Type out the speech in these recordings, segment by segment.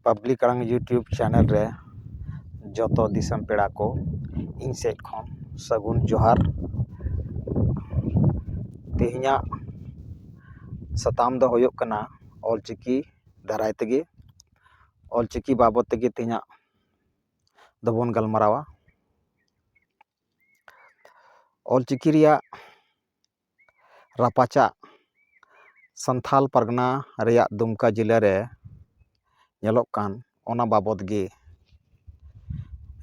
public ᱟᱲᱟᱝ YouTube channel ᱨᱮ ᱡᱚᱛᱚ ᱫᱤᱥᱚᱢ ᱯᱮᱲᱟ ᱠᱚ ᱤᱧ ᱥᱮᱫ ᱠᱷᱚᱱ ᱥᱟᱹᱜᱩᱱ ᱡᱚᱦᱟᱨ ᱛᱮᱦᱮᱧᱟᱜ ᱥᱟᱛᱟᱢ ᱫᱚ ᱦᱩᱭᱩᱜ ᱠᱟᱱᱟ ᱚᱞ ᱪᱤᱠᱤ ᱫᱟᱨᱟᱭ ᱛᱮᱜᱮ ᱚᱞ ᱪᱤᱠᱤ ᱵᱟᱵᱚᱫ ᱛᱮᱜᱮ ᱛᱮᱦᱮᱧᱟᱜ ᱫᱚᱵᱚᱱ ᱜᱟᱞᱢᱟᱨᱟᱣᱟ ᱚᱞ ᱪᱤᱠᱤ ᱨᱮᱭᱟᱜ ᱨᱟᱯᱟᱪᱟᱜ ᱥᱟᱱᱛᱷᱟᱞ ᱯᱟᱨᱜᱟᱱᱟ ᱨᱮᱭᱟᱜ ᱫᱩᱢᱠᱟ ᱡᱮᱞᱟ ᱨᱮ ᱧᱮᱞᱚᱜ ᱠᱟᱱ ᱚᱱᱟ ᱵᱟᱵᱚᱫ ᱜᱮ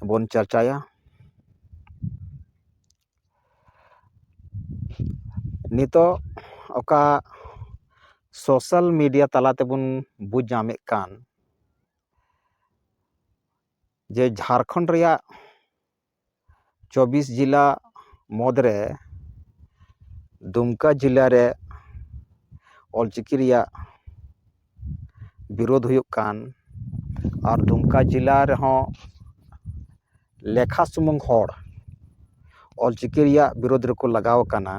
ᱵᱚᱱ ᱪᱟᱨᱪᱟᱭᱟ ᱱᱤᱛᱳᱜ ᱚᱠᱟ ᱥᱳᱥᱟᱞ ᱢᱤᱰᱤᱭᱟ ᱛᱟᱞᱟ ᱛᱮᱵᱚᱱ ᱵᱩᱡᱽ ᱧᱟᱢᱮᱫ ᱠᱟᱱ ᱡᱮ ᱡᱷᱟᱲᱠᱷᱚᱸᱰ ᱨᱮᱭᱟᱜ ᱪᱚᱵᱵᱤᱥ ᱡᱮᱞᱟ ᱢᱩᱫᱽ ᱨᱮ ᱫᱩᱢᱠᱟ ᱡᱮᱞᱟ ᱨᱮ ᱚᱞᱪᱤᱠᱤ ᱨᱮᱭᱟᱜ ᱵᱤᱨᱳᱫᱷ ᱦᱩᱭᱩᱜ ᱠᱟᱱ ᱟᱨ ᱫᱩᱢᱠᱟ ᱡᱮᱞᱟ ᱨᱮᱦᱚᱸ ᱞᱮᱠᱷᱟ ᱥᱩᱢᱩᱝ ᱦᱚᱲ ᱚᱞ ᱪᱤᱠᱤ ᱨᱮᱭᱟᱜ ᱵᱤᱨᱳᱫᱷ ᱨᱮᱠᱚ ᱞᱟᱜᱟᱣ ᱠᱟᱱᱟ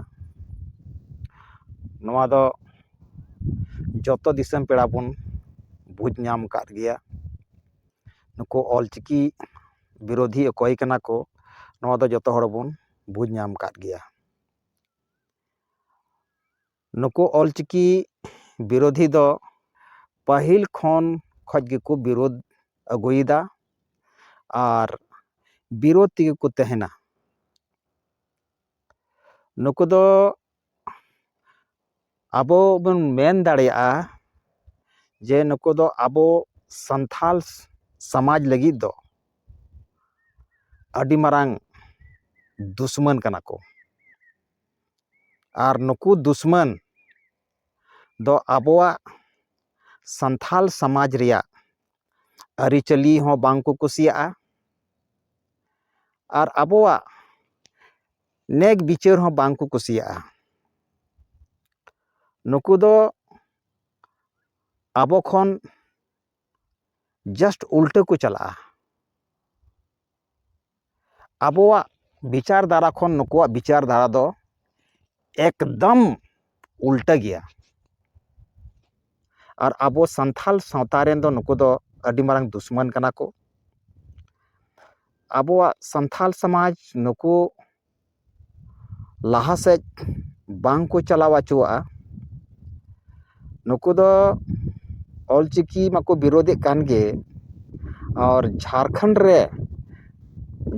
ᱱᱚᱣᱟ ᱫᱚ ᱡᱚᱛᱚ ᱫᱤᱥᱚᱢ ᱯᱮᱲᱟ ᱵᱚᱱ ᱵᱩᱡᱽ ᱧᱟᱢ ᱠᱟᱫ ᱜᱮᱭᱟ ᱱᱩᱠᱩ ᱚᱞ ᱪᱤᱠᱤ ᱵᱤᱨᱳᱫᱷᱤ ᱚᱠᱚᱭ ᱠᱟᱱᱟ ᱠᱚ ᱱᱚᱣᱟ ᱫᱚ ᱡᱚᱛᱚ ᱦᱚᱲ ᱵᱚᱱ ᱵᱩᱡᱽ ᱧᱟᱢ ᱠᱟᱫ ᱜᱮᱭᱟ ᱱᱩᱠᱩ ᱚᱞᱪᱤᱠᱤ ᱵᱤᱨᱳᱫᱷᱤ ᱫᱚ ᱯᱟᱹᱦᱤᱞ ᱠᱷᱚᱱ ᱠᱷᱚᱡ ᱜᱮᱠᱚ ᱵᱤᱨᱳᱫᱷ ᱟᱹᱜᱩᱭᱮᱫᱟ ᱟᱨ ᱵᱤᱨᱳᱫᱷ ᱛᱮᱜᱮ ᱠᱚ ᱛᱟᱦᱮᱱᱟ ᱱᱩᱠᱩ ᱫᱚ ᱟᱵᱚ ᱵᱚᱱ ᱢᱮᱱ ᱫᱟᱲᱮᱭᱟᱜᱼᱟ ᱡᱮ ᱱᱩᱠᱩ ᱫᱚ ᱟᱵᱚ ᱥᱟᱱᱛᱟᱲ ᱥᱚᱢᱟᱡᱽ ᱞᱟᱹᱜᱤᱫ ᱫᱚ ᱟᱹᱰᱤ ᱢᱟᱨᱟᱝ ᱫᱩᱥᱢᱟᱹᱱ ᱠᱟᱱᱟ ᱠᱚ ᱟᱨ ᱱᱩᱠᱩ ᱫᱩᱥᱢᱟᱹᱱ ᱫᱚ ᱟᱵᱚᱣᱟᱜ ᱥᱟᱱᱛᱟᱲ ᱥᱚᱢᱟᱡᱽ ᱨᱮᱭᱟᱜ ᱟᱹᱨᱤᱪᱟᱹᱞᱤ ᱦᱚᱸ ᱵᱟᱝ ᱠᱚ ᱠᱩᱥᱤᱭᱟᱜᱼᱟ ᱟᱨ ᱟᱵᱚᱣᱟᱜ ᱱᱮᱠ ᱵᱤᱪᱟᱹᱨ ᱦᱚᱸ ᱵᱟᱝ ᱠᱚ ᱠᱩᱥᱤᱭᱟᱜᱼᱟ ᱱᱩᱠᱩ ᱫᱚ ᱟᱵᱚ ᱠᱷᱚᱱ ᱡᱟᱥᱴ ᱩᱞᱴᱟᱹ ᱠᱚ ᱪᱟᱞᱟᱜᱼᱟ ᱟᱵᱚᱣᱟᱜ ᱵᱤᱪᱟᱨ ᱫᱷᱟᱨᱟ ᱠᱷᱚᱱ ᱱᱩᱠᱩᱣᱟᱜ ᱵᱤᱪᱟᱨ ᱫᱷᱟᱨᱟ ᱫᱚ ᱮᱠᱫᱚᱢ ᱩᱞᱴᱟᱹ ᱜᱮᱭᱟ ᱟᱨ ᱟᱵᱚ ᱥᱟᱱᱛᱟᱲ ᱥᱟᱶᱛᱟ ᱨᱮᱱ ᱫᱚ ᱱᱩᱠᱩ ᱫᱚ ᱟᱹᱰᱤ ᱢᱟᱨᱟᱝ ᱫᱩᱥᱢᱚᱱ ᱠᱟᱱᱟ ᱠᱚ ᱟᱵᱚᱣᱟᱜ ᱥᱟᱱᱛᱟᱲ ᱥᱚᱢᱟᱡᱽ ᱱᱩᱠᱩ ᱞᱟᱦᱟ ᱥᱮᱫ ᱵᱟᱝ ᱠᱚ ᱪᱟᱞᱟᱣ ᱚᱪᱚᱣᱟᱜᱼᱟ ᱱᱩᱠᱩ ᱫᱚ ᱚᱞ ᱪᱤᱠᱤ ᱢᱟᱠᱚ ᱵᱤᱨᱳᱫᱮᱫ ᱠᱟᱱ ᱜᱮ ᱟᱨ ᱡᱷᱟᱲᱠᱷᱚᱸᱰ ᱨᱮ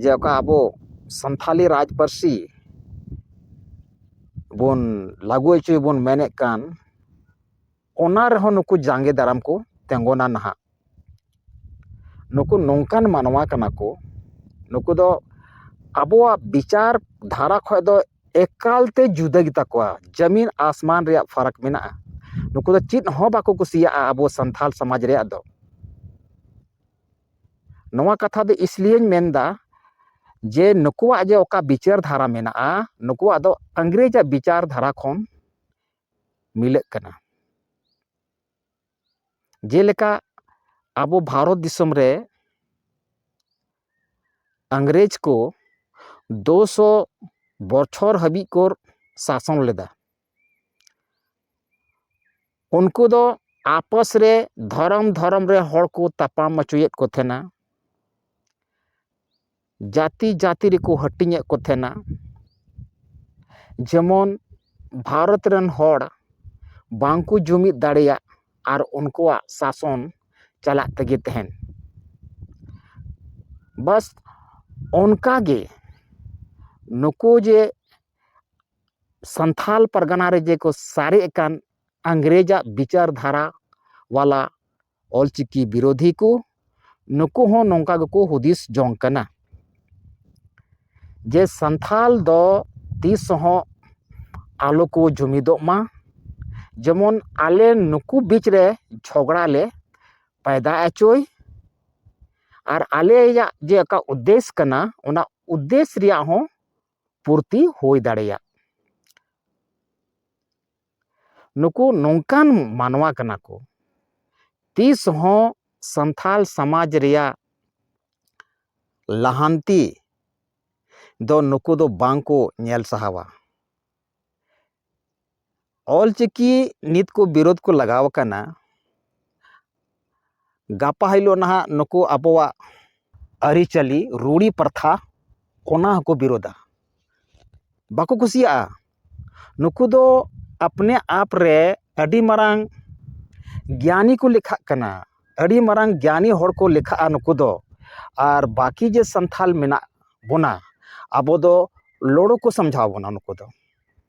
ᱡᱮ ᱚᱠᱟ ᱟᱵᱚ ᱥᱟᱱᱛᱷᱟᱞᱤ ᱨᱟᱡᱽ ᱯᱟᱹᱨᱥᱤ ᱵᱚᱱ ᱞᱟᱹᱜᱩ ᱦᱚᱪᱚᱭ ᱵᱚᱱ ᱢᱮᱱᱮᱫ ᱠᱟᱱ ᱚᱱᱟ ᱨᱮᱦᱚᱸ ᱱᱩᱠᱩ ᱡᱟᱸᱜᱮ ᱫᱟᱨᱟᱢ ᱠᱚ ᱛᱤᱸᱜᱩᱱᱟ ᱱᱟᱦᱟᱜ ᱱᱩᱠᱩ ᱱᱚᱝᱠᱟᱱ ᱢᱟᱱᱣᱟ ᱠᱟᱱᱟ ᱠᱚ ᱱᱩᱠᱩ ᱫᱚ ᱟᱵᱚᱣᱟᱜ ᱵᱤᱪᱟᱨ ᱫᱷᱟᱨᱟ ᱠᱷᱚᱱ ᱫᱚ ᱮᱠᱟᱞᱛᱮ ᱡᱩᱫᱟᱹ ᱜᱮᱛᱟ ᱠᱚᱣᱟ ᱡᱚᱢᱤᱱ ᱟᱥᱢᱟᱱ ᱨᱮᱭᱟᱜ ᱯᱷᱟᱨᱟᱠ ᱢᱮᱱᱟᱜᱼᱟ ᱱᱩᱠᱩ ᱫᱚ ᱪᱮᱫ ᱦᱚᱸ ᱵᱟᱠᱚ ᱠᱩᱥᱤᱭᱟᱜᱼᱟ ᱟᱵᱚ ᱥᱟᱱᱛᱟᱲ ᱥᱚᱢᱟᱡᱽ ᱨᱮᱭᱟᱜ ᱫᱚ ᱱᱚᱣᱟ ᱠᱟᱛᱷᱟ ᱫᱚ ᱤᱥᱞᱤᱭᱮᱧ ᱢᱮᱱᱫᱟ ᱡᱮ ᱱᱩᱠᱩᱣᱟᱜ ᱡᱮ ᱚᱠᱟ ᱵᱤᱪᱟᱹᱨ ᱫᱷᱟᱨᱟ ᱢᱮᱱᱟᱜᱼᱟ ᱱᱩᱠᱩᱣᱟᱜ ᱫᱚ ᱤᱝᱨᱮᱡᱽ ᱟᱜ ᱵᱤᱪᱟᱹᱨ ᱫᱷᱟᱨᱟ ᱠᱷᱚᱱ ᱢᱤᱞᱟᱹᱜ ᱠᱟᱱᱟ ᱡᱮᱞᱮᱠᱟ ᱟᱵᱚ ᱵᱷᱟᱨᱚᱛ ᱫᱤᱥᱚᱢ ᱨᱮ ᱤᱝᱨᱮᱡᱽ ᱠᱚ ᱫᱩ ᱥᱚ ᱵᱚᱪᱷᱚᱨ ᱦᱟᱹᱵᱤᱡ ᱠᱚ ᱥᱟᱥᱚᱱ ᱞᱮᱫᱟ ᱩᱱᱠᱩ ᱫᱚ ᱟᱯᱚᱥ ᱨᱮ ᱫᱷᱚᱨᱚᱢ ᱫᱷᱚᱨᱚᱢ ᱨᱮ ᱦᱚᱲ ᱠᱚ ᱛᱟᱯᱟᱢ ᱚᱪᱚᱭᱮᱫ ᱠᱚ ᱛᱟᱦᱮᱱᱟ ᱡᱟᱹᱛᱤ ᱡᱟᱹᱛᱤ ᱨᱮᱠᱚ ᱦᱟᱹᱴᱤᱧᱮᱫ ᱠᱚ ᱛᱟᱦᱮᱱᱟ ᱡᱮᱢᱚᱱ ᱵᱷᱟᱨᱚᱛ ᱨᱮᱱ ᱦᱚᱲ ᱵᱟᱝ ᱠᱚ ᱡᱩᱢᱤᱫ ᱫᱟᱲᱮᱭᱟᱜ ᱟᱨ ᱩᱱᱠᱩᱣᱟᱜ ᱥᱟᱥᱚᱱ ᱪᱟᱞᱟᱜ ᱛᱮᱜᱮ ᱛᱟᱦᱮᱱ ᱵᱟᱥ ᱚᱱᱠᱟ ᱜᱮ ᱱᱩᱠᱩ ᱡᱮ ᱥᱟᱱᱛᱷᱟᱞ ᱯᱟᱨᱜᱟᱱᱟ ᱨᱮ ᱡᱮ ᱠᱚ ᱥᱟᱨᱮᱡ ᱟᱠᱟᱱ ᱤᱝᱨᱮᱡᱟᱜ ᱵᱤᱪᱟᱹᱨ ᱫᱷᱟᱨᱟ ᱵᱟᱞᱟ ᱚᱞ ᱪᱤᱠᱤ ᱵᱤᱨᱳᱫᱷᱤ ᱠᱚ ᱱᱩᱠᱩ ᱦᱚᱸ ᱱᱚᱝᱠᱟ ᱜᱮᱠᱚ ᱦᱩᱫᱤᱥ ᱡᱚᱝ ᱠᱟᱱᱟ ᱡᱮ ᱥᱟᱱᱛᱷᱟᱞ ᱫᱚ ᱛᱤᱥ ᱦᱚᱸ ᱟᱞᱚ ᱠᱚ ᱡᱩᱢᱤᱫᱚᱜ ᱢᱟ ᱡᱮᱢᱚᱱ ᱟᱞᱮ ᱱᱩᱠᱩ ᱵᱤᱪ ᱨᱮ ᱡᱷᱚᱜᱽᱲᱟ ᱞᱮ ᱯᱟᱭᱫᱟ ᱚᱪᱚᱭ ᱟᱨ ᱟᱞᱮᱭᱟᱜ ᱡᱮ ᱚᱠᱟ ᱩᱫᱽᱫᱮᱥ ᱠᱟᱱᱟ ᱚᱱᱟ ᱩᱫᱽᱫᱮᱥ ᱨᱮᱭᱟᱜ ᱦᱚᱸ ᱯᱩᱨᱛᱤ ᱦᱩᱭ ᱫᱟᱲᱮᱭᱟᱜ ᱱᱩᱠᱩ ᱱᱚᱝᱠᱟᱱ ᱢᱟᱱᱣᱟ ᱠᱟᱱᱟ ᱠᱚ ᱛᱤᱥ ᱦᱚᱸ ᱥᱟᱱᱛᱟᱲ ᱥᱚᱢᱟᱡᱽ ᱨᱮᱭᱟᱜ ᱞᱟᱦᱟᱱᱛᱤ ᱫᱚ ᱱᱩᱠᱩ ᱫᱚ ᱵᱟᱝ ᱠᱚ ᱧᱮᱞ ᱥᱟᱦᱟᱣᱟ ᱚᱞᱪᱤᱠᱤ ᱱᱤᱛ ᱠᱚ ᱵᱤᱨᱳᱫᱷ ᱠᱚ ᱞᱟᱜᱟᱣ ᱟᱠᱟᱱᱟ ᱜᱟᱯᱟ ᱦᱤᱞᱳᱜ ᱱᱟᱦᱟᱜ ᱱᱩᱠᱩ ᱟᱵᱚᱣᱟᱜ ᱟᱹᱨᱤᱪᱟᱹᱞᱤ ᱨᱩᱲᱤ ᱯᱨᱚᱛᱷᱟ ᱚᱱᱟ ᱦᱚᱸᱠᱚ ᱵᱤᱨᱳᱫᱟ ᱵᱟᱠᱚ ᱠᱩᱥᱤᱭᱟᱜᱼᱟ ᱱᱩᱠᱩ ᱫᱚ ᱟᱯᱱᱮ ᱟᱯ ᱨᱮ ᱟᱹᱰᱤ ᱢᱟᱨᱟᱝ ᱜᱮᱭᱟᱱᱤ ᱠᱚ ᱞᱮᱠᱷᱟᱜ ᱠᱟᱱᱟ ᱟᱹᱰᱤ ᱢᱟᱨᱟᱝ ᱜᱮᱭᱟᱱᱤ ᱦᱚᱲ ᱠᱚ ᱞᱮᱠᱷᱟᱜᱼᱟ ᱱᱩᱠᱩ ᱫᱚ ᱟᱨ ᱵᱟᱹᱠᱤ ᱡᱮ ᱥᱟᱱᱛᱟᱲ ᱢᱮᱱᱟᱜ ᱵᱚᱱᱟ ᱟᱵᱚ ᱫᱚ ᱞᱚᱲᱩ ᱠᱚ ᱥᱟᱢᱡᱷᱟᱣ ᱵᱚᱱᱟ ᱱᱩᱠᱩ ᱫᱚ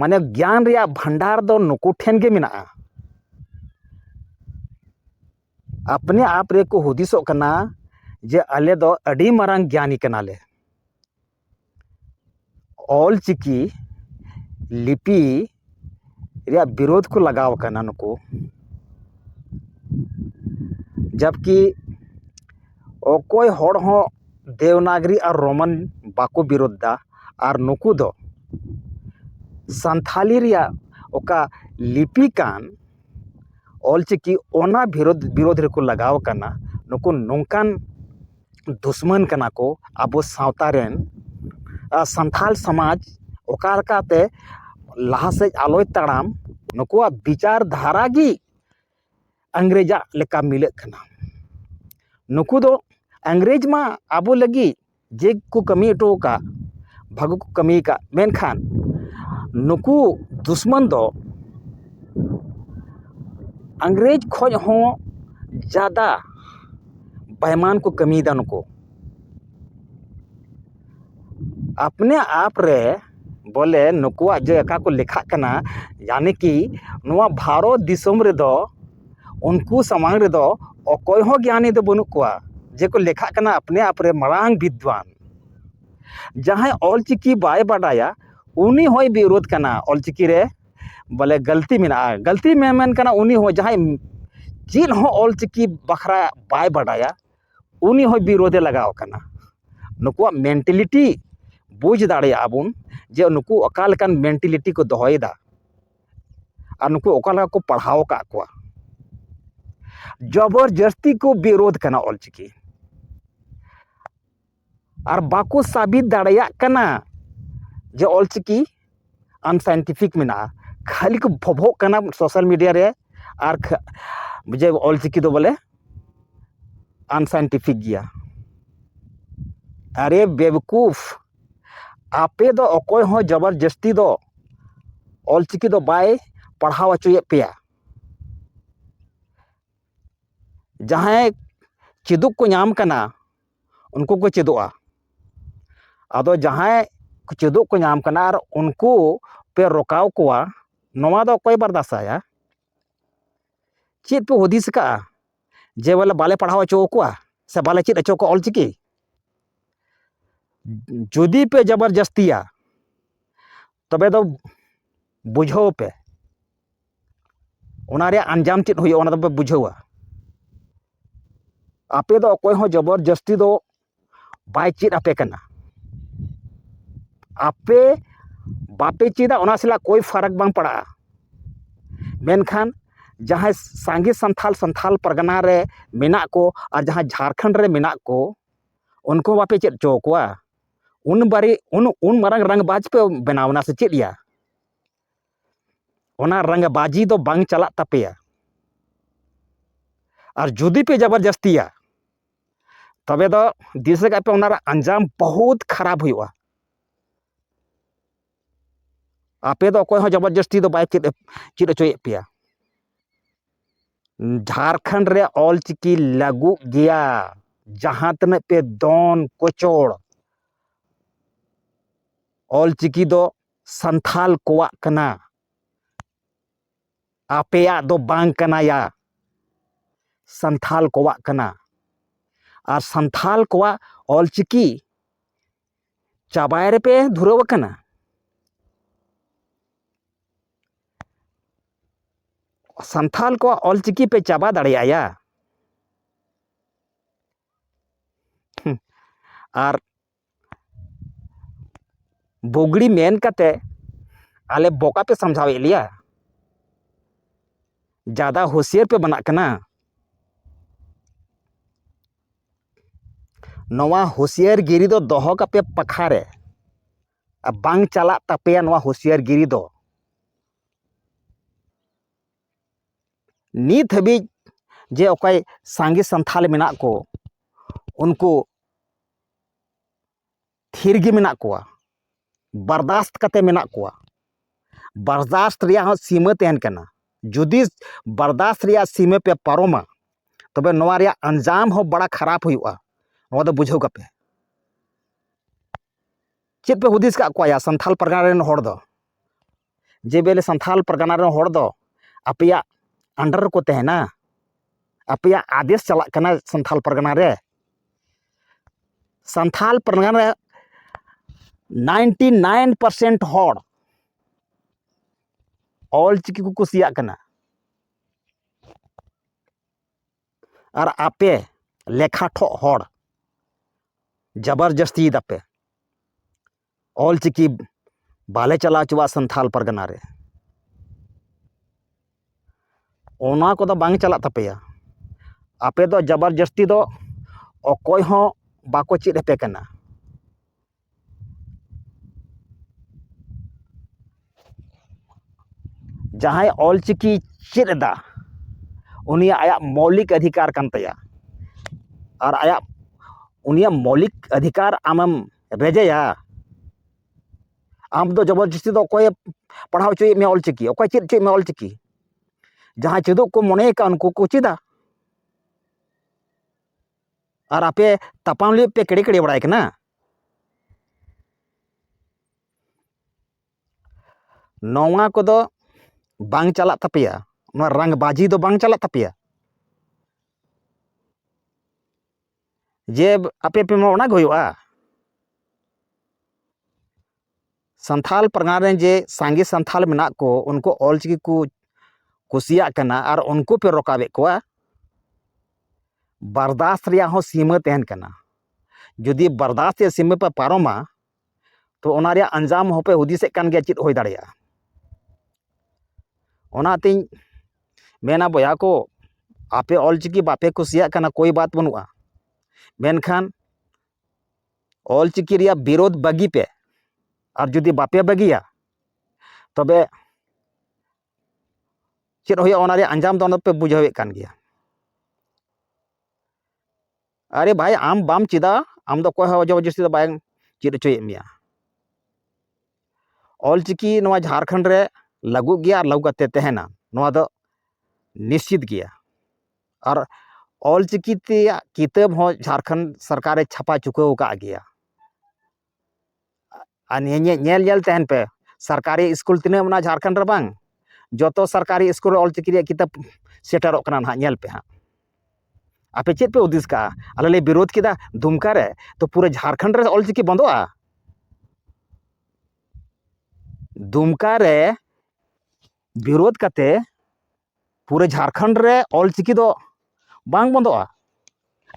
ᱢᱟᱱᱮ ᱜᱮᱭᱟᱱ ᱨᱮᱭᱟᱜ ᱵᱷᱟᱱᱰᱟᱨ ᱫᱚ ᱱᱩᱠᱩ ᱴᱷᱮᱱ ᱜᱮ ᱢᱮᱱᱟᱜᱼᱟ ᱟᱯᱱᱮ ᱟᱯ ᱨᱮᱠᱚ ᱦᱩᱫᱤᱥᱚᱜ ᱠᱟᱱᱟ ᱡᱮ ᱟᱞᱮ ᱫᱚ ᱟᱹᱰᱤ ᱢᱟᱨᱟᱝ ᱜᱮᱭᱟᱱᱤ ᱠᱟᱱᱟᱞᱮ ᱚᱞ ᱪᱤᱠᱤ ᱞᱤᱯᱤ ᱨᱮᱭᱟᱜ ᱵᱤᱨᱳᱫᱷ ᱠᱚ ᱞᱟᱜᱟᱣ ᱠᱟᱱᱟ ᱱᱩᱠᱩ ᱡᱟᱵᱽᱠᱤ ᱚᱠᱚᱭ ᱦᱚᱲ ᱦᱚᱸ ᱫᱮᱵᱽᱱᱟᱜᱚᱨᱤ ᱟᱨ ᱨᱳᱢᱟᱱ ᱵᱟᱠᱚ ᱵᱤᱨᱳᱫᱷ ᱮᱫᱟ ᱟᱨ ᱱᱩᱠᱩ ᱫᱚ ᱥᱟᱱᱛᱷᱟᱞᱤ ᱨᱮᱭᱟᱜ ᱚᱠᱟ ᱞᱤᱯᱤ ᱠᱟᱱ ᱚᱞ ᱪᱤᱠᱤ ᱚᱱᱟ ᱵᱤᱨᱳᱫᱷ ᱵᱤᱨᱳᱫᱷ ᱨᱮᱠᱚ ᱞᱟᱜᱟᱣ ᱠᱟᱱᱟ ᱱᱩᱠᱩ ᱱᱚᱝᱠᱟᱱ ᱫᱩᱥᱢᱟᱹᱱ ᱠᱟᱱᱟ ᱠᱚ ᱟᱵᱚ ᱥᱟᱶᱛᱟ ᱨᱮᱱ ᱟᱨ ᱥᱟᱱᱛᱷᱟᱞ ᱥᱚᱢᱟᱡᱽ ᱚᱠᱟ ᱞᱮᱠᱟᱛᱮ ᱞᱟᱦᱟ ᱥᱮᱫ ᱟᱞᱚᱭ ᱛᱟᱲᱟᱢ ᱱᱩᱠᱩᱣᱟᱜ ᱵᱤᱪᱟᱨ ᱫᱷᱟᱨᱟ ᱜᱮ ᱤᱝᱨᱮᱡᱟᱜ ᱞᱮᱠᱟ ᱢᱤᱞᱟᱹᱜ ᱠᱟᱱᱟ ᱱᱩᱠᱩ ᱫᱚ ᱤᱝᱨᱮᱡᱽ ᱢᱟ ᱟᱵᱚ ᱞᱟᱹᱜᱤᱫ ᱡᱮ ᱠᱚ ᱠᱟᱹᱢᱤ ᱦᱚᱴᱚ ᱟᱠᱟᱫ ᱵᱷᱟᱹᱜᱤ ᱠᱚ ᱠᱟᱹᱢᱤ ᱟᱠᱟᱫ ᱢᱮᱱᱠᱷᱟᱱ ᱱᱩᱠᱩ ᱫᱩᱥᱢᱚᱱ ᱫᱚ ᱤᱝᱨᱮᱡᱽ ᱠᱷᱚᱱ ᱦᱚᱸ ᱡᱟᱫᱟ ᱵᱟᱭᱢᱟᱱ ᱠᱚ ᱠᱟᱹᱢᱤᱭᱮᱫᱟ ᱱᱩᱠᱩ ᱟᱯᱱᱮ ᱟᱯ ᱨᱮ ᱵᱚᱞᱮ ᱱᱩᱠᱩᱣᱟᱜ ᱡᱮ ᱚᱠᱟ ᱠᱚ ᱞᱮᱠᱷᱟᱜ ᱠᱟᱱᱟ ᱡᱟᱱᱤ ᱠᱤ ᱱᱚᱣᱟ ᱵᱷᱟᱨᱚᱛ ᱫᱤᱥᱚᱢ ᱨᱮᱫᱚ ᱩᱱᱠᱩ ᱥᱟᱢᱟᱝ ᱨᱮᱫᱚ ᱚᱠᱚᱭ ᱦᱚᱸ ᱜᱮᱭᱟᱱᱤ ᱫᱚ ᱵᱟᱹᱱᱩᱜ ᱠᱚᱣᱟ ᱡᱮ ᱠᱚ ᱞᱮᱠᱷᱟᱜ ᱠᱟᱱᱟ ᱟᱯᱱᱮ ᱟᱯ ᱨᱮ ᱢᱟᱨᱟᱝ ᱵᱤᱫᱽᱫᱟᱱ ᱡᱟᱦᱟᱸᱭ ᱚᱞ ᱪᱤᱠᱤ ᱵᱟᱭ ᱵᱟᱰᱟᱭᱟ ᱩᱱᱤ ᱦᱚᱸᱭ ᱵᱤᱨᱳᱫᱷ ᱠᱟᱱᱟ ᱚᱞ ᱪᱤᱠᱤ ᱨᱮ ᱵᱚᱞᱮ ᱜᱟᱹᱞᱛᱤ ᱢᱮᱱᱟᱜᱼᱟ ᱜᱟᱹᱞᱛᱤ ᱢᱮᱢᱮᱱ ᱠᱟᱱᱟ ᱩᱱᱤ ᱦᱚᱸ ᱡᱟᱦᱟᱸᱭ ᱪᱮᱫ ᱦᱚᱸ ᱚᱞ ᱪᱤᱠᱤ ᱵᱟᱠᱷᱨᱟ ᱵᱟᱭ ᱵᱟᱰᱟᱭᱟ ᱩᱱᱤ ᱦᱚᱸ ᱵᱤᱨᱳᱫᱷᱮ ᱞᱟᱜᱟᱣ ᱠᱟᱱᱟ ᱱᱩᱠᱩᱣᱟᱜ ᱢᱮᱱᱴᱮᱞᱤᱴᱤ ᱵᱩᱡᱽ ᱫᱟᱲᱮᱭᱟᱜᱼᱟ ᱵᱚᱱ ᱡᱮ ᱱᱩᱠᱩ ᱚᱠᱟ ᱞᱮᱠᱟᱱ ᱢᱮᱱᱴᱮᱞᱤᱴᱤ ᱠᱚ ᱫᱚᱦᱚᱭᱮᱫᱟ ᱟᱨ ᱱᱩᱠᱩ ᱚᱠᱟ ᱞᱮᱠᱟ ᱠᱚ ᱯᱟᱲᱦᱟᱣ ᱟᱠᱟᱫ ᱠᱚᱣᱟ ᱡᱚᱵᱚᱨ ᱡᱟᱹᱥᱛᱤ ᱠᱚ ᱵᱤᱨᱳᱫᱷ ᱠᱟᱱᱟ ᱚᱞᱪᱤᱠᱤ ᱟᱨ ᱵᱟᱠᱚ ᱥᱟᱵᱤᱛ ᱫᱟᱲᱮᱭᱟᱜ ᱠᱟᱱᱟ ᱡᱮ ᱚᱞ ᱪᱤᱠᱤ ᱟᱱᱥᱟᱭᱮᱱᱴᱤᱯᱷᱤᱠ ᱢᱮᱱᱟᱜᱼᱟ ᱠᱷᱟᱹᱞᱤ ᱠᱚ ᱵᱷᱚᱵᱷᱚᱜ ᱠᱟᱱᱟ ᱥᱳᱥᱟᱞ ᱢᱤᱰᱤᱭᱟ ᱨᱮ ᱟᱨ ᱡᱮ ᱚᱞ ᱪᱤᱠᱤ ᱫᱚ ᱵᱚᱞᱮ ᱟᱱᱥᱟᱭᱮᱱᱴᱤᱯᱷᱤᱠ ᱜᱮᱭᱟ ᱟᱨᱮ ᱵᱮᱵᱽᱠᱩᱯᱷ ᱟᱯᱮ ᱫᱚ ᱚᱠᱚᱭ ᱦᱚᱸ ᱡᱚᱵᱚᱨ ᱡᱟᱹᱥᱛᱤ ᱫᱚ ᱚᱞ ᱪᱤᱠᱤ ᱫᱚ ᱵᱟᱭ ᱯᱟᱲᱦᱟᱣ ᱦᱚᱪᱚᱭᱮᱫ ᱯᱮᱭᱟ ᱡᱟᱦᱟᱸᱭ ᱪᱮᱫᱚᱜ ᱠᱚ ᱧᱟᱢ ᱠᱟᱱᱟ ᱩᱱᱠᱩ ᱠᱚ ᱪᱮᱫᱚᱜᱼᱟ ᱟᱫᱚ ᱡᱟᱦᱟᱸᱭ ᱪᱮᱫᱚᱜ ᱠᱚ ᱧᱟᱢ ᱠᱟᱱᱟ ᱟᱨ ᱩᱱᱠᱩ ᱯᱮ ᱨᱚᱠᱟᱣ ᱠᱚᱣᱟ ᱱᱚᱣᱟ ᱫᱚ ᱚᱠᱚᱭ ᱵᱟᱨᱫᱟᱥᱟᱭᱟ ᱪᱮᱫ ᱯᱮ ᱦᱩᱫᱤᱥ ᱠᱟᱜᱼᱟ ᱡᱮ ᱵᱚᱞᱮ ᱵᱟᱞᱮ ᱯᱟᱲᱦᱟᱣ ᱦᱚᱪᱚ ᱟᱠᱚᱣᱟ ᱥᱮ ᱵᱟᱞᱮ ᱪᱮᱫ ᱦᱚᱪᱚ ᱠᱚᱣᱟ ᱚᱞᱪᱤᱠᱤ ᱡᱩᱫᱤ ᱯᱮ ᱡᱚᱵᱚᱨ ᱡᱟᱹᱥᱛᱤᱭᱟ ᱛᱚᱵᱮ ᱫᱚ ᱵᱩᱡᱷᱟᱹᱣ ᱯᱮ ᱚᱱᱟ ᱨᱮᱭᱟᱜ ᱟᱧᱡᱟᱢ ᱪᱮᱫ ᱦᱩᱭᱩᱜᱼᱟ ᱚᱱᱟ ᱫᱚᱯᱮ ᱵᱩᱡᱷᱟᱹᱣᱟ ᱟᱯᱮ ᱫᱚ ᱚᱠᱚᱭ ᱦᱚᱸ ᱡᱚᱵᱚᱨ ᱡᱟᱹᱥᱛᱤ ᱫᱚ ᱵᱟᱭ ᱪᱮᱫ ᱟᱯᱮ ᱠᱟᱱᱟ ᱟᱯᱮ ᱵᱟᱯᱮ ᱪᱮᱫᱟ ᱚᱱᱟ ᱥᱟᱞᱟᱜ ᱠᱳᱭ ᱯᱷᱟᱨᱟᱠ ᱵᱟᱝ ᱯᱟᱲᱟᱜᱼᱟ ᱢᱮᱱᱠᱷᱟᱱ ᱡᱟᱦᱟᱸᱭ ᱥᱟᱸᱜᱮ ᱥᱟᱱᱛᱷᱟᱞ ᱥᱟᱱᱛᱷᱟᱞ ᱯᱟᱨᱜᱟᱱᱟ ᱨᱮ ᱢᱮᱱᱟᱜ ᱠᱚ ᱟᱨ ᱡᱟᱦᱟᱸᱭ ᱡᱷᱟᱲᱠᱷᱚᱸᱰ ᱨᱮ ᱢᱮᱱᱟᱜ ᱠᱚ ᱩᱱᱠᱩ ᱦᱚᱸ ᱵᱟᱯᱮ ᱪᱮᱫ ᱦᱚᱪᱚ ᱠᱚᱣᱟ ᱩᱱ ᱵᱟᱨᱮ ᱩᱱ ᱩᱱ ᱢᱟᱨᱟᱝ ᱨᱟᱝᱵᱟᱡᱽ ᱯᱮ ᱵᱮᱱᱟᱣ ᱮᱱᱟ ᱥᱮ ᱪᱮᱫ ᱭᱟ ᱚᱱᱟ ᱨᱟᱸᱜᱟ ᱵᱟᱡᱤ ᱫᱚ ᱵᱟᱝ ᱪᱟᱞᱟᱜ ᱛᱟᱯᱮᱭᱟ ᱟᱨ ᱡᱩᱫᱤ ᱯᱮ ᱡᱟᱵᱚᱨ ᱡᱟᱹᱥᱛᱤᱭᱟ ᱛᱚᱵᱮ ᱫᱚ ᱫᱤᱥᱟᱹ ᱠᱟᱜ ᱯᱮ ᱚᱱᱟ ᱨᱮᱱᱟᱜ ᱟᱧᱡᱟᱢ ᱵᱚᱦᱩᱛ ᱠᱷᱟᱨᱟᱯ ᱦᱩᱭᱩᱜᱼᱟ ᱟᱯᱮ ᱫᱚ ᱚᱠᱚᱭ ᱦᱚᱸ ᱡᱟᱵᱚᱨ ᱡᱟᱹᱥᱛᱤ ᱫᱚ ᱵᱟᱭ ᱪᱮᱫ ᱪᱮᱫ ᱦᱚᱪᱚᱭᱮᱫ ᱯᱮᱭᱟ ᱡᱷᱟᱲᱠᱷᱚᱸᱰ ᱨᱮ ᱚᱞ ᱪᱤᱠᱤ ᱞᱟᱹᱜᱩᱜ ᱜᱮᱭᱟ ᱡᱟᱦᱟᱸ ᱛᱤᱱᱟᱹᱜ ᱯᱮ ᱫᱚᱱ ᱠᱚᱪᱚᱲ ᱚᱞ ᱪᱤᱠᱤ ᱫᱚ ᱥᱟᱱᱛᱷᱟᱞ ᱠᱚᱣᱟᱜ ᱠᱟᱱᱟ ᱟᱯᱮᱭᱟᱜ ᱫᱚ ᱵᱟᱝ ᱠᱟᱱᱟᱭᱟ ᱥᱟᱱᱛᱷᱟᱞ ᱠᱚᱣᱟᱜ ᱠᱟᱱᱟ ᱟᱨ ᱥᱟᱱᱛᱷᱟᱞ ᱠᱚᱣᱟᱜ ᱚᱞᱪᱤᱠᱤ ᱪᱟᱵᱟᱭ ᱨᱮᱯᱮ ᱫᱷᱩᱨᱟᱹᱣ ᱟᱠᱟᱱᱟ ᱥᱟᱱᱛᱷᱟᱞ ᱠᱚᱣᱟᱜ ᱚᱞᱪᱤᱠᱤ ᱯᱮ ᱪᱟᱵᱟ ᱫᱟᱲᱮᱭᱟᱭᱟ ᱟᱨ ᱵᱩᱜᱽᱲᱤ ᱢᱮᱱ ᱠᱟᱛᱮ ᱟᱞᱮ ᱵᱚᱠᱟ ᱯᱮ ᱥᱟᱢᱡᱷᱟᱣᱮᱫ ᱞᱮᱭᱟ ᱡᱟᱫᱟ ᱦᱩᱥᱭᱟᱹᱨ ᱯᱮ ᱵᱟᱱᱟᱜ ᱠᱟᱱᱟ ᱱᱚᱣᱟ ᱦᱩᱥᱭᱟᱹᱨ ᱜᱤᱨᱤ ᱫᱚ ᱫᱚᱦᱚ ᱠᱟᱯᱮ ᱯᱟᱠᱷᱟ ᱨᱮ ᱟᱨ ᱵᱟᱝ ᱪᱟᱞᱟᱜ ᱛᱟᱯᱮᱭᱟ ᱱᱚᱣᱟ ᱦᱩᱥᱭᱟᱹᱨ ᱜᱤᱨᱤ ᱫᱚ ᱱᱤᱛ ᱦᱟᱹᱵᱤᱡ ᱡᱮ ᱚᱠᱚᱭ ᱥᱟᱸᱜᱮ ᱥᱟᱱᱛᱷᱟᱞ ᱢᱮᱱᱟᱜ ᱠᱚ ᱩᱱᱠᱩ ᱛᱷᱤᱨ ᱜᱮ ᱢᱮᱱᱟᱜ ᱠᱚᱣᱟ ᱵᱟᱨᱫᱟᱥᱛ ᱠᱟᱛᱮ ᱢᱮᱱᱟᱜ ᱠᱚᱣᱟ ᱵᱟᱨᱫᱟᱥᱛ ᱨᱮᱭᱟᱜ ᱦᱚᱸ ᱥᱤᱢᱟᱹ ᱛᱟᱦᱮᱱ ᱠᱟᱱᱟ ᱡᱩᱫᱤ ᱵᱟᱨᱫᱟᱥᱛ ᱨᱮᱭᱟᱜ ᱥᱤᱢᱟᱹ ᱯᱮ ᱯᱟᱨᱚᱢᱟ ᱛᱚᱵᱮ ᱱᱚᱣᱟ ᱨᱮᱭᱟᱜ ᱟᱧᱡᱟᱢ ᱦᱚᱸ ᱵᱟᱲᱟ ᱠᱷᱟᱨᱟᱯ ᱦᱩᱭᱩᱜᱼᱟ ᱱᱚᱣᱟ ᱫᱚ ᱵᱩᱡᱷᱟᱹᱣ ᱠᱟᱯᱮ ᱪᱮᱫ ᱯᱮ ᱦᱩᱫᱤᱥ ᱠᱟᱜ ᱠᱚᱣᱟ ᱭᱟ ᱥᱟᱱᱛᱷᱟᱞ ᱯᱟᱨᱜᱟᱱᱟ ᱨᱮᱱ ᱦᱚᱲ ᱫᱚ ᱡᱮ ᱵᱮᱞᱮ ᱥᱟᱱᱛᱷᱟᱞ ᱯᱟᱨᱜᱟᱱᱟ ᱨᱮᱱ ᱦᱚᱲ ᱫᱚ ᱟᱯᱮᱭᱟᱜ ᱟᱱᱰᱟᱨ ᱨᱮᱠᱚ ᱛᱟᱦᱮᱱᱟ ᱟᱯᱮᱭᱟᱜ ᱟᱫᱮᱥ ᱪᱟᱞᱟᱜ ᱠᱟᱱᱟ ᱥᱟᱱᱛᱷᱟᱞ ᱯᱟᱨᱜᱟᱱᱟ ᱨᱮ ᱥᱟᱱᱛᱷᱟᱞ ᱯᱟᱨᱜᱟᱱᱟ ᱨᱮ ᱱᱟᱭᱤᱱᱴᱤ ᱱᱟᱭᱤᱱ ᱯᱟᱨᱥᱮᱱᱴ ᱦᱚᱲ ᱚᱞ ᱪᱤᱠᱤ ᱠᱚ ᱠᱩᱥᱤᱭᱟᱜ ᱠᱟᱱᱟ ᱟᱨ ᱟᱯᱮ ᱞᱮᱠᱷᱟ ᱴᱷᱚᱜ ᱦᱚᱲ ᱡᱟᱵᱟᱨ ᱡᱟᱹᱥᱛᱤᱭ ᱫᱟᱯᱮ ᱚᱞᱪᱤᱠᱤ ᱵᱟᱞᱮ ᱪᱟᱞᱟᱣ ᱦᱚᱪᱚᱣᱟᱜᱼᱟ ᱥᱟᱱᱛᱟᱲ ᱯᱟᱨᱜᱟᱱᱟ ᱨᱮ ᱚᱱᱟ ᱠᱚᱫᱚ ᱵᱟᱝ ᱪᱟᱞᱟᱜ ᱛᱟᱯᱮᱭᱟ ᱟᱯᱮ ᱫᱚ ᱡᱟᱵᱚᱨ ᱡᱟᱹᱥᱛᱤ ᱫᱚ ᱚᱠᱚᱭ ᱦᱚᱸ ᱵᱟᱠᱚ ᱪᱮᱫ ᱟᱯᱮ ᱠᱟᱱᱟ ᱡᱟᱦᱟᱸᱭ ᱚᱞᱪᱤᱠᱤ ᱪᱮᱫ ᱮᱫᱟ ᱩᱱᱤᱭᱟᱜ ᱟᱭᱟᱜ ᱢᱳᱣᱞᱤᱠ ᱚᱫᱷᱤᱠᱟᱨ ᱠᱟᱱ ᱛᱟᱭᱟ ᱟᱨ ᱟᱭᱟᱜ ᱩᱱᱤᱭᱟᱜ ᱢᱳᱣᱞᱤᱠ ᱚᱫᱷᱤᱠᱟᱨ ᱟᱢᱮᱢ ᱨᱮᱡᱮᱭᱟ ᱟᱢ ᱫᱚ ᱡᱚᱵᱚᱨᱡᱚᱥᱛᱤ ᱫᱚ ᱚᱠᱚᱭᱮ ᱯᱟᱲᱦᱟᱣ ᱦᱚᱪᱚᱭᱮᱫ ᱢᱮᱭᱟ ᱚᱞᱪᱤᱠᱤ ᱚᱠᱚᱭ ᱪᱮᱫ ᱦᱚᱪᱚᱭᱮᱫ ᱢᱮᱭᱟ ᱚᱞᱪᱤᱠᱤ ᱡᱟᱦᱟᱸᱭ ᱪᱮᱫᱚᱜ ᱠᱚ ᱢᱚᱱᱮ ᱟᱠᱟᱫ ᱩᱱᱠᱩ ᱠᱚ ᱪᱮᱫᱟ ᱟᱨ ᱟᱯᱮ ᱛᱟᱯᱟᱢ ᱞᱟᱹᱜᱤᱫ ᱯᱮ ᱠᱮᱲᱮ ᱠᱮᱲᱮ ᱵᱟᱲᱟᱭ ᱠᱟᱱᱟ ᱱᱚᱣᱟ ᱠᱚᱫᱚ ᱵᱟᱝ ᱪᱟᱞᱟᱜ ᱛᱟᱯᱮᱭᱟ ᱱᱚᱣᱟ ᱨᱟᱝᱵᱟᱡᱤ ᱫᱚ ᱵᱟᱝ ᱪᱟᱞᱟᱜ ᱛᱟᱯᱮᱭᱟ ᱡᱮ ᱟᱯᱮ ᱯᱮ ᱮᱢᱚᱜᱼᱟ ᱚᱱᱟᱜᱮ ᱦᱩᱭᱩᱜᱼᱟ ᱥᱟᱱᱛᱷᱟᱞ ᱯᱟᱨᱜᱟᱱᱟ ᱨᱮᱱ ᱡᱮ ᱥᱟᱸᱜᱮ ᱥᱟᱱᱛᱷᱟᱞ ᱢᱮᱱᱟᱜ ᱠᱚ ᱩᱱᱠᱩ ᱚᱞ ᱪᱤᱠᱤ ᱠᱚ ᱠᱩᱥᱤᱭᱟᱜ ᱠᱟᱱᱟ ᱟᱨ ᱩᱱᱠᱩ ᱯᱮ ᱨᱚᱠᱟᱵᱮᱫ ᱠᱚᱣᱟ ᱵᱟᱨᱫᱟᱥ ᱨᱮᱭᱟᱜ ᱦᱚᱸ ᱥᱤᱢᱟᱹ ᱛᱟᱦᱮᱱ ᱠᱟᱱᱟ ᱡᱩᱫᱤ ᱵᱟᱨᱫᱟᱥ ᱨᱮᱭᱟᱜ ᱥᱤᱢᱟᱹ ᱯᱮ ᱯᱟᱨᱚᱢᱟ ᱛᱚ ᱚᱱᱟ ᱨᱮᱭᱟᱜ ᱟᱧᱡᱟᱢ ᱦᱚᱸᱯᱮ ᱦᱩᱫᱤᱥᱮᱫ ᱠᱟᱱ ᱜᱮᱭᱟ ᱪᱮᱫ ᱦᱩᱭ ᱫᱟᱲᱮᱭᱟᱜᱼᱟ ᱚᱱᱟᱛᱤᱧ ᱢᱮᱱᱟ ᱵᱚᱭᱦᱟ ᱠᱚ ᱟᱯᱮ ᱚᱞ ᱪᱤᱠᱤ ᱵᱟᱯᱮ ᱠᱩᱥᱤᱭᱟᱜ ᱠᱟᱱᱟ ᱠᱳᱭ ᱵᱟᱛ ᱵᱟᱹᱱᱩᱜᱼᱟ ᱢᱮᱱᱠᱷᱟᱱ ᱚᱞ ᱪᱤᱠᱤ ᱨᱮᱭᱟᱜ ᱵᱤᱨᱳᱫ ᱵᱟᱹᱜᱤ ᱯᱮ ᱟᱨ ᱡᱩᱫᱤ ᱵᱟᱯᱮ ᱵᱟᱹᱜᱤᱭᱟ ᱛᱚᱵᱮ ᱪᱮᱫ ᱦᱩᱭᱩᱜᱼᱟ ᱚᱱᱟ ᱨᱮᱭᱟᱜ ᱟᱸᱡᱟᱢ ᱫᱚ ᱚᱱᱟ ᱫᱚᱯᱮ ᱵᱩᱡᱷᱟᱹᱣᱮᱫ ᱠᱟᱱ ᱜᱮᱭᱟ ᱟᱨᱮ ᱵᱷᱟᱭ ᱟᱢ ᱵᱟᱢ ᱪᱮᱫᱟ ᱟᱢ ᱫᱚ ᱚᱠᱚᱭ ᱦᱚᱸ ᱡᱚᱵᱚᱨᱡᱚᱥᱛᱤ ᱫᱚ ᱵᱟᱝ ᱪᱮᱫ ᱦᱚᱪᱚᱭᱮᱫ ᱢᱮᱭᱟ ᱚᱞᱪᱤᱠᱤ ᱱᱚᱣᱟ ᱡᱷᱟᱲᱠᱷᱚᱸᱰ ᱨᱮ ᱞᱟᱹᱜᱩᱜ ᱜᱮᱭᱟ ᱟᱨ ᱞᱟᱹᱜᱩ ᱠᱟᱛᱮ ᱛᱟᱦᱮᱱᱟ ᱱᱚᱣᱟ ᱫᱚ ᱱᱤᱥᱪᱤᱛ ᱜᱮᱭᱟ ᱟᱨ ᱚᱞᱪᱤᱠᱤ ᱛᱮᱭᱟᱜ ᱠᱤᱛᱟᱹᱵ ᱦᱚᱸ ᱡᱷᱟᱲᱠᱷᱚᱸᱰ ᱥᱚᱨᱠᱟᱨᱮ ᱪᱷᱟᱯᱟ ᱪᱩᱠᱟᱹᱣ ᱟᱠᱟᱫ ᱜᱮᱭᱟ ᱟᱨ ᱱᱤᱭᱟᱹ ᱧᱮᱞ ᱧᱮᱞ ᱧᱮᱞ ᱛᱟᱦᱮᱱ ᱯᱮ ᱥᱚᱨᱠᱟᱨᱤ ᱤᱥᱠᱩᱞ ᱛᱤᱱᱟᱹᱜ ᱢᱮᱱᱟᱜᱼᱟ ᱡᱷᱟᱲᱠᱷᱚᱸᱰ ᱨᱮ ᱵᱟᱝ ᱡᱚᱛᱚ ᱥᱚᱨᱠᱟᱨᱤ ᱤᱥᱠᱩᱞ ᱨᱮ ᱚᱞ ᱪᱤᱠᱤ ᱨᱮᱭᱟᱜ ᱠᱤᱛᱟᱹᱵ ᱥᱮᱴᱮᱨᱚᱜ ᱠᱟᱱᱟ ᱱᱟᱦᱟᱜ ᱧᱮᱞ ᱯᱮ ᱦᱟᱸᱜ ᱟᱯᱮ ᱪᱮᱫ ᱯᱮ ᱦᱩᱫᱤᱥ ᱠᱟᱜᱼᱟ ᱟᱞᱮ ᱞᱮ ᱵᱤᱨᱳᱫᱷ ᱠᱮᱫᱟ ᱫᱩᱢᱠᱟ ᱨᱮ ᱛᱚ ᱯᱩᱨᱟᱹ ᱡᱷᱟᱲᱠᱷᱚᱸᱰ ᱨᱮ ᱚᱞ ᱪᱤᱠᱤ ᱵᱚᱱᱫᱚᱜᱼᱟ ᱫᱩᱢᱠᱟ ᱨᱮ ᱵᱤᱨᱳᱫᱷ ᱠᱟᱛᱮ ᱯᱩᱨᱟᱹ ᱡᱷᱟᱲᱠᱷᱚᱸᱰ ᱨᱮ ᱚᱞ ᱪᱤᱠᱤ ᱫᱚ ᱵᱟᱝ ᱵᱚᱱᱫᱚᱜᱼᱟ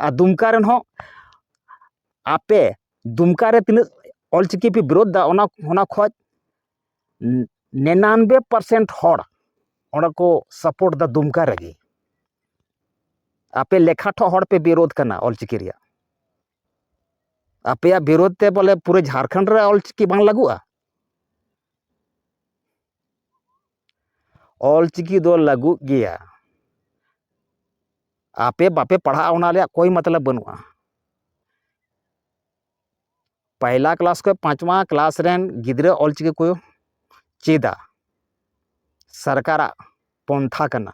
ᱟᱨ ᱫᱩᱢᱠᱟ ᱨᱮᱱ ᱦᱚᱸ ᱟᱯᱮ ᱫᱩᱢᱠᱟ ᱨᱮ ᱛᱤᱱᱟᱹᱜ ᱚᱞ ᱪᱤᱠᱤ ᱯᱮ ᱵᱤᱨᱳᱫ ᱮᱫᱟ ᱚᱱᱟ ᱚᱱᱟ ᱠᱷᱚᱱ ᱱᱤᱱᱟᱱᱵᱮ ᱯᱟᱨᱥᱮᱱᱴ ᱦᱚᱲ ᱚᱸᱰᱮ ᱠᱚ ᱥᱟᱯᱳᱨᱴ ᱮᱫᱟ ᱫᱩᱢᱠᱟ ᱨᱮᱜᱮ ᱟᱯᱮ ᱞᱮᱠᱷᱟ ᱴᱷᱚᱜ ᱦᱚᱲ ᱯᱮ ᱵᱤᱨᱳᱫ ᱠᱟᱱᱟ ᱚᱞ ᱪᱤᱠᱤ ᱨᱮᱭᱟᱜ ᱟᱯᱮᱭᱟᱜ ᱵᱤᱨᱳᱫ ᱛᱮ ᱵᱚᱞᱮ ᱯᱩᱨᱟᱹ ᱡᱷᱟᱲᱠᱷᱚᱸᱰ ᱨᱮ ᱚᱞ ᱪᱤᱠᱤ ᱵᱟᱝ ᱞᱟᱹᱜᱩᱜᱼᱟ ᱚᱞ ᱪᱤᱠᱤ ᱫᱚ ᱞᱟᱹᱜᱩᱜ ᱜᱮᱭᱟ ᱟᱯᱮ ᱵᱟᱯᱮ ᱯᱟᱲᱦᱟᱜᱼᱟ ᱚᱱᱟ ᱨᱮᱭᱟᱜ ᱠᱳᱭ ᱢᱚᱛᱞᱚᱵ ᱵᱟᱹᱱᱩᱜᱼᱟ ᱯᱟᱭᱞᱟ ᱠᱞᱟᱥ ᱠᱷᱚᱱ ᱯᱟᱸᱪᱣᱟ ᱠᱞᱟᱥ ᱨᱮᱱ ᱜᱤᱫᱽᱨᱟᱹ ᱚᱞ ᱪᱤᱠᱤ ᱠᱚ ᱪᱮᱫᱟ ᱥᱚᱨᱠᱟᱨᱟᱜ ᱯᱚᱱᱛᱷᱟ ᱠᱟᱱᱟ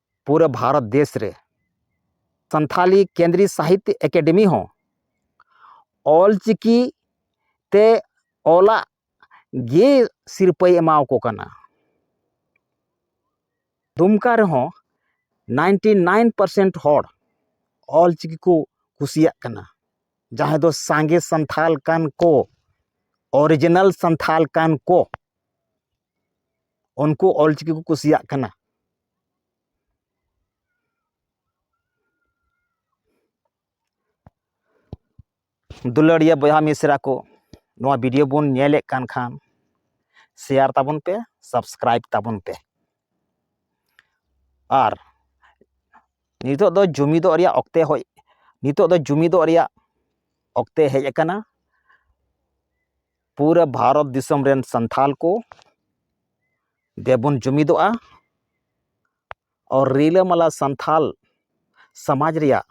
ᱯᱩᱨᱟᱹ ᱵᱷᱟᱨᱚᱛ ᱫᱮᱥ ᱨᱮ ᱥᱟᱱᱛᱷᱟᱞᱤ ᱠᱮᱱᱫᱨᱤ ᱥᱟᱦᱤᱛᱛᱚ ᱮᱠᱟᱰᱮᱢᱤ ᱦᱚᱸ ᱚᱞ ᱪᱤᱠᱤ ᱛᱮ ᱚᱞᱟᱜ ᱜᱮ ᱥᱤᱨᱯᱟᱹᱭ ᱮᱢᱟᱣᱟᱠᱚ ᱠᱟᱱᱟ ᱫᱩᱢᱠᱟ ᱨᱮᱦᱚᱸ ᱱᱟᱭᱤᱱᱴᱤ ᱱᱟᱭᱤᱱ ᱯᱟᱨᱥᱮᱱᱴ ᱦᱚᱲ ᱚᱞ ᱪᱤᱠᱤ ᱠᱚ ᱠᱩᱥᱤᱭᱟᱜ ᱠᱟᱱᱟ ᱡᱟᱦᱟᱸᱭ ᱫᱚ ᱥᱟᱸᱜᱮ ᱥᱟᱱᱛᱷᱟᱞ ᱠᱟᱱ ᱠᱚ ᱚᱨᱤᱡᱤᱱᱟᱞ ᱥᱟᱱᱛᱷᱟᱞ ᱠᱟᱱ ᱠᱚ ᱩᱱᱠᱩ ᱚᱞ ᱪᱤᱠᱤ ᱠᱚ ᱠᱩᱥᱤᱭᱟᱜ ᱠᱟᱱᱟ ᱫᱩᱞᱟᱹᱲᱤᱭᱟᱹ ᱵᱚᱭᱦᱟ ᱢᱤᱥᱨᱟ ᱠᱚ ᱱᱚᱣᱟ ᱵᱷᱤᱰᱤᱭᱳ ᱵᱚᱱ ᱧᱮᱞᱮᱫ ᱠᱟᱱ ᱠᱷᱟᱱ ᱥᱮᱭᱟᱨ ᱛᱟᱵᱚᱱ ᱯᱮ ᱥᱟᱵᱥᱠᱨᱟᱭᱤᱵᱽ ᱛᱟᱵᱚᱱ ᱯᱮ ᱟᱨ ᱱᱤᱛᱚᱜ ᱫᱚ ᱡᱩᱢᱤᱫᱚᱜ ᱨᱮᱭᱟᱜ ᱚᱠᱛᱮ ᱦᱚᱭ ᱱᱤᱛᱚᱜ ᱫᱚ ᱡᱩᱢᱤᱫᱚᱜ ᱨᱮᱭᱟᱜ ᱚᱠᱛᱮ ᱦᱮᱡ ᱟᱠᱟᱱᱟ ᱯᱩᱨᱟᱹ ᱵᱷᱟᱨᱚᱛ ᱫᱤᱥᱚᱢ ᱨᱮᱱ ᱥᱟᱱᱛᱟᱲ ᱠᱚ ᱫᱮᱵᱚᱱ ᱡᱩᱢᱤᱫᱚᱜᱼᱟ ᱟᱨ ᱨᱤᱞᱟᱹᱢᱟᱞᱟ ᱥᱟᱱᱛᱟᱲ ᱥᱚᱢᱟᱡᱽ ᱨᱮᱭᱟᱜ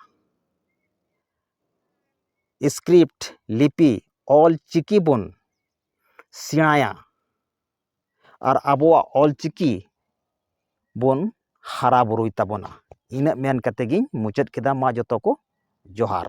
ᱥᱠᱨᱤᱯᱴ ᱞᱤᱯᱤ ᱚᱞᱪᱤᱠᱤ ᱵᱚᱱ ᱥᱮᱬᱟᱭᱟ ᱟᱨ ᱟᱵᱚᱣᱟᱜ ᱚᱞ ᱪᱤᱠᱤ ᱵᱚᱱ ᱦᱟᱨᱟ ᱵᱩᱨᱩᱭ ᱛᱟᱵᱚᱱᱟ ᱤᱱᱟᱹᱜ ᱢᱮᱱ ᱠᱟᱛᱮᱫ ᱜᱤᱧ ᱢᱩᱪᱟᱹᱫ ᱠᱮᱫᱟ ᱢᱟ ᱡᱚᱛᱚ ᱠᱚ ᱡᱚᱦᱟᱨ